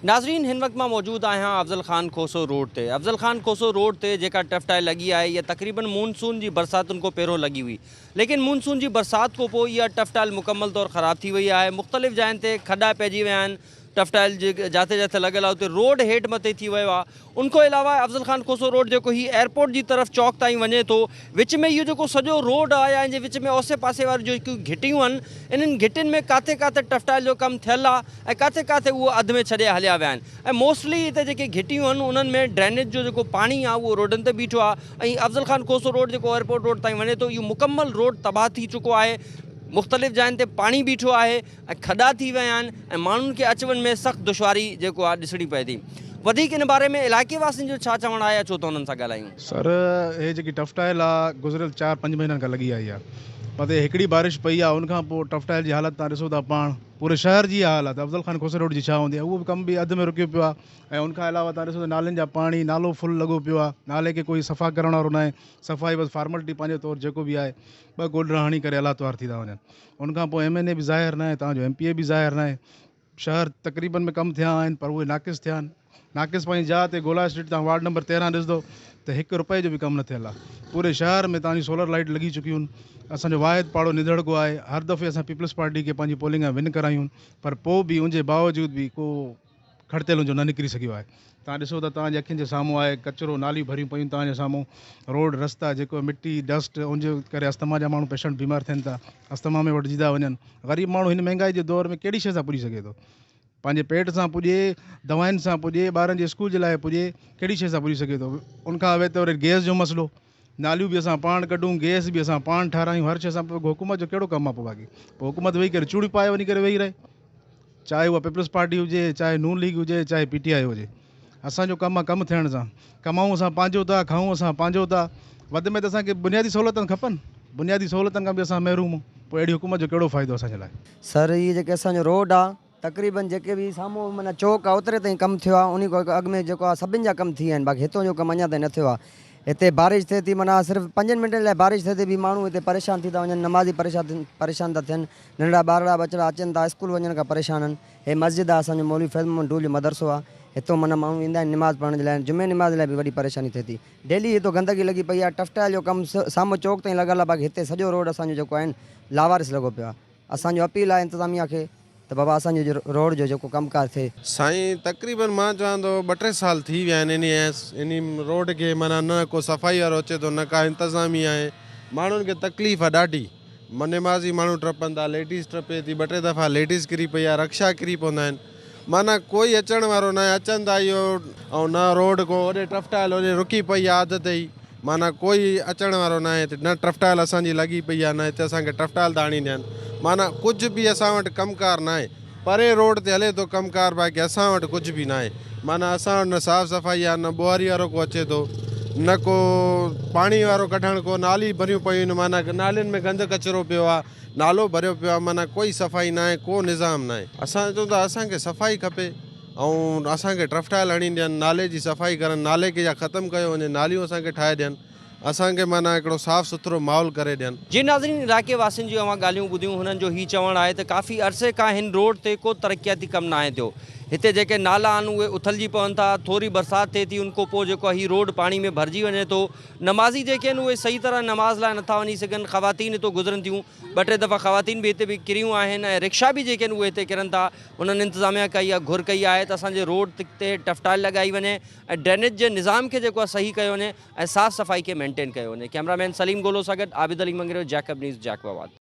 ناظرين هن وقت مان موجود آهيان افضل خان کوسو روڊ تي افضل خان کوسو روڊ تي جيڪا ٽفٽائي لڳي آهي اها تقريبن مون سون جي برساتن کون پهريون لڳي هئي ليڪن مون سون جي برسات کون پوء اها ٽفٽائل مڪمل طور خراب ٿي وئي آهي مختلف جاين تي کڏا پئجي ويا آهن ٽفٽائل جي جاٿي جاٿي لڳل آهي اتي روڊ هيٺ مٿي ٿي ويو آهي ان کان علاوه افضل خان کوسو روڊ جيڪو هي ايئرپورٽ جي طرف چوڪ تائين وڃي ٿو وچ ۾ اهو جيڪو سڄو روڊ آ يا ان جي وچ ۾ اوسي پاسي واريون جيڪيون گهٽيون آهن انهن گهٽين ۾ ڪاٿي ڪاٿي ٽفٽائل جو ڪم ٿيل آ ۽ ڪاٿي ڪاٿي اهو اڌ ۾ ڇڏي هليا ويا آهن ۽ موسٽلي هتي جيڪي گهٽيون آهن انهن ۾ ڊرينيج جو جيڪو پاڻي آ اهو روڊن تي بيٺو آ ۽ افضل خان کوسو روڊ جيڪو ايئرپورٽ روڊ تائين وڃي ٿو اهو مڪمل روڊ تباهه ٿي چڪو آهي مختلف جاين تي پاڻي بيٺو آهي. ۽ کڏا ٿي ويا آهن ۽ ماڻهن کي اچ وڃ ۾ سخت دشواري جيڪو آهي ڏسڻي پئي ٿي وڌيڪ ان باري ۾ علائقي واسين جو ڇا چوڻ آهي اچو ته انهن سان ڳالهايون. سر هي جيڪي ٽف ٽائل آ گذريل چار پنج مهينن کان لڳي آئي آ متي هڪڙي بارش پئي آ ان کان پو ٽف ٽائل جي حالت تان ڏسو ٿا پاڻ پوري شهر جي اها حال آ ته افضل خان کوسي روڊ جي ڇا هوندي اهو ڪم به اڌ ۾ رڪيو پيو آ ۽ ان کان علاوه تان ڏسو ته نالين جا پاڻي نالو فل لڳو پيو آ نالي کي ڪوئي صفا ڪرڻ وارو ناهي صفائي بس فارملٽي پنهنجي طور جيڪو به آهي ٻه گولڊرا هڻي ڪري الاتوار ٿي ٿا وڃن ان کان پوء ايم اين اي به ظاهر ناهي تان جو ايم پي اي به ظاهر ناهي شهر تقريبن ۾ ڪم ٿيا آهن پر اهي ناقص ٿيا آهن ناقص پنهنجي جاء تي گولا اسٽريٽ تان وارڊ نمبر تيرهن ڏسندو ته هڪ روپئي جو به ڪم نه ٿيل آهي پوري شهر ۾ تان جي سولر لائيٽ لڳي چڪيون اسان جو واحد پاڙو ندڙڪو آهي هر دفعي اسان پيپلز پارٽي کي پنهنجي پولنگ ۾ ون ڪرايون پر پوء به ان جي باوجود به ڪو کڙتيلن جو نه نڪري سگهيو آهي توهان ڏسو ته توهان جي اکين جي سامهون آهي ڪچرو ناليون ڀريون پيون توهان جي سامهون روڊ رستا جيڪو مٽي ڊسٽ ان جي ڪري اسٿما جا ماڻهو پيشنٽ بيمار ٿين ٿا اسٿما ۾ وٺجي ٿا وڃن غريب ماڻهو هن مهنگائي جي دور ۾ ڪهڙي شيء سان پڄي سگهي ٿو پنهنجي پيٽ سان پڄي دوائن سان پڄي ٻارن جي اسڪول جي لاء پڄي ڪهڙي شيء سان پڄي سگهي ٿو ان کان اوهين ته وري گيس جو مسئلو ناليون به اسان پاڻ ڪڍون گئس به اسان پاڻ ٺارايون هر شي اسان پوء حڪومت جو ڪهڙو ڪم آ پوء باقي پوء حڪومت ويهي ڪري چوڙيون پائي وڃي ڪري ويهي رهي چاهي اها پيپلز پارٽي هجي چاهي نون ليگ هجي چاهي پي ٽي آء هجي اسانجو ڪم آ ڪم ٿيڻ سان ڪمائون اسان پنهنجو ٿا کائون اسان پنهنجو ٿا وڌ ۾ وڌ اسانکي بنيادي سهولتون کپن بنيادي سهولتن کان به اسان محروم آهيون پوء اهڙي حڪومت جو ڪهڙو فائدو اسانجي لاء سر هي جيڪي اسانجو روڊ آ تقريبن جيڪي به سامهون معنيٰ چوڪ آ اوتري تائين ڪم ٿيو آ انهي کان اڳ ۾ جيڪو آ سڀن جا ڪم ٿي ويا آهن باقي هتان جو ڪم اڃان تائين نه ٿيو آ هتي بارش ٿئي ٿي معنيٰ صرف پنجن منٽن لاء بارش ٿئي ٿي به ماڻهو هتي پريشان ٿي ٿا وڃن نمازي پريشان ٿا ٿين ننڍڙا ٻارڙا ٻچڙا اچن ٿا اسڪول وڃڻ کان پريشان آهن هي مسجد آ اسان جو مولوي فيض محمد ڊول جو مدرسو آ هتان معنيٰ ماڻهو ايندا آهن نماز پڙهڻ جي لاء جمعي نماز لاء به وڏي پريشاني ٿئي ٿي ڊيلي هتان گندگي لڳي پئي آ ٽف ٽائل جو ڪم سامهون چوڪ تائين لڳل آ باقي هتي سڄو روڊ اسان جو جيڪو آهن لاوارث لڳو پيو آ. اسان جو اپيل آهي انتظاميه کي ته بابا اسان جو روڊ جو جيڪو ڪم ڪار ٿئي. سائين تقريبن مان چوان ٿو ٻه ٽي سال ٿي ويا آهن انهي انهي روڊ کي معنيٰ نه ڪو صفائي وارو اچي ٿو نه ڪا انتظاميه آهي ماڻهن کي تڪليف آهي ڏاڍي نمازي ماڻهو ٽپن ٿا ليڊيز ٽپي ٿي ٻه ٽي دفعا ليڊيز ڪري پئي آهي رڪشا ڪري پوندا آهن معنيٰ ڪوئي اچڻ وارو ناهي، اچن ٿا اهو ۽ نه روڊ ڪو هوڏي ٽرفٽائل هوڏي رڪي پئي آهي اڌ تي ئي، معنيٰ ڪوئي اچڻ وارو ناهي هتي، نه ٽرفٽائل اسان جي لڳي پئي آهي نه هتي اسان کي ٽرفٽائل ٿا هڻي ڏين، معنيٰ ڪجهه به اسان وٽ ڪم ڪار ناهي، پرين روڊ تي هلي ٿو ڪم ڪار باقي اسان وٽ ڪجهه به ناهي، معنيٰ اسان وٽ نه صاف صفائي آهي نه ٻوهاري وارو ڪو اچي ٿو نه ڪو پاڻي وارو ڪڍڻ ڪو نالي ڀريون پيون آهن معنيٰ نالين ۾ گند ڪچرو پيو آهي. نالو ڀريو پيو آ معنيٰ ڪوئي صفائي ناهي ڪو نظام ناهي اسان چون ٿا اسان کي صفائي کپي ۽ اسان کي ٽرفٽائل هڻي ڏين نالي جي صفائي ڪرن نالي کي يا ختم ڪيو وڃي ناليون اسان کي ٺاهي ڏين اسان کي معنيٰ هڪڙو صاف سٿرو ماحول ڪري ڏين. جي ناظرين علائقي واسين جون اوهان ڳالهيون ٻڌيون هنن جو هي چوڻ آهي ته ڪافي عرصي کان هن روڊ تي ڪو ترقياتي ڪم ناهي ٿيو هتي جيڪي نالا آهن اهي اٿلجي پون ٿا ٿوري برسات ٿئي ٿي ان کونپوء جيڪو هي روڊ پاڻي ۾ ڀرجي وڃي ٿو نمازي جيڪي آهن اهي صحيح طرح نماز لاء نٿا وڃي سگهن، خواتين هتو گذرن ٿيون، ٻه ٽي دفعا خواتين به هتي به ڪريون آهن ۽ رڪشا به جيڪي آهن اهي هتي ڪرن ٿا، انهن انتظاميا کان اها گهر ڪئي آهي ته اسان جي روڊ تي ٽف ٽائل لڳائي وڃي ۽ ڊرينيج جي نظام کي جيڪو آهي صحيح ڪيو وڃي ۽ صاف صفائي کي مينٽين ڪيو وڃي. ڪيمرا مين سليم گولو سان گڏ Abid Ali Mangrio Jacob news Jacob آباد.